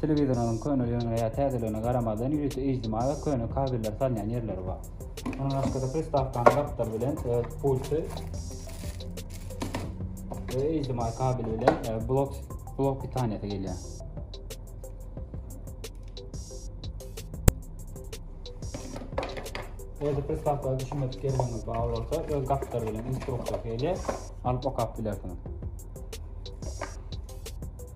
Telewizoryňyzyň köneligine ýa täzeligine garamazdan, ýörite HDMI we köne kabelleri salynýan ýerleri bar. Mundan başga-da pristawkanyň gapdaly bilen öz pulty we HDMI kabeli bilen blok blok pitaniýasy gelýär. Eger pristawka düşünmedik ýerleriňiz bar bolsa, öz gapdary bilen instruksiýasy gelýär, alyp okap bilersiňiz.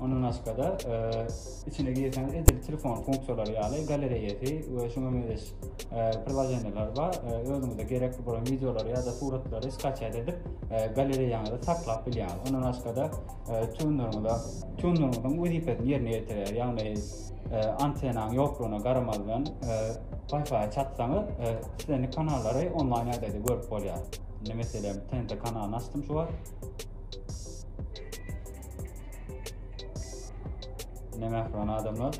Ondan başga-da, içine girseňiz edil telefon funksiýalary ýaly galereýasy we şuňa meňzeş prilajeniýalar bar. Özüňize gerekli bolan wideolary ýa-da suratlary skaçýat edip, galereýaňyzda saklap bilýäňiz. Ondan başga-da, tuneriňize, tuneriňiziň wezipesini ýerine ýetirýär. Ýagny, antennaň ýoklugyna garamazdan, Wi-Fi çatsaňyz, islendik kanallary onlaýn ýagdaýda görüp bolýar. Indi, meselem, TNT kanalyny açdym şu wagt. Ne mehriban adamlar.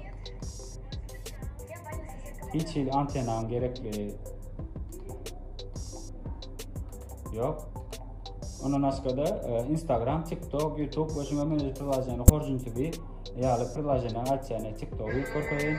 Hiç hili antenam gerekli yok. Ondan başka da e, Instagram, TikTok, YouTube ve şuna benzer prilajenleri horjunçu bir ýaly prilajenleri açýany TikTok ýük görkezeýin.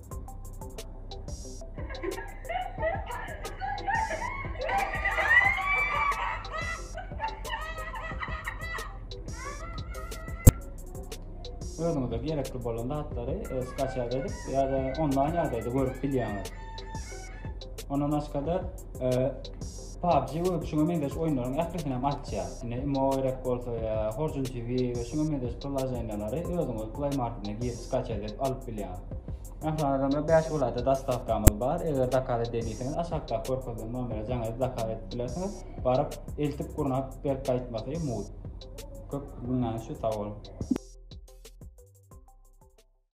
özüňize gerekli bolan zatlary e, skaçat edip ya da onlaýn ýagdaýda görüp bilýäňiz. Ondan başga da PUBG we şuňa meňzeş oýunlaryň ählisini hem açýar. Ine imo gerek bolsa ýa Horjun TV we şuňa meňzeş priloženiýalary özüňiz Play Marketine girip skaça edip alyp bilýäňiz. Mähriban adamlar 5 welaýatda dostawkamyz bar. Eger zakaz edýän diýseňiz aşakdaky görkezilen nomere jaňa zakaz edip bilersiňiz. Baryp eltip gurnap berip gaýtmasy mugt. Köp günäňiz şu sag boluň.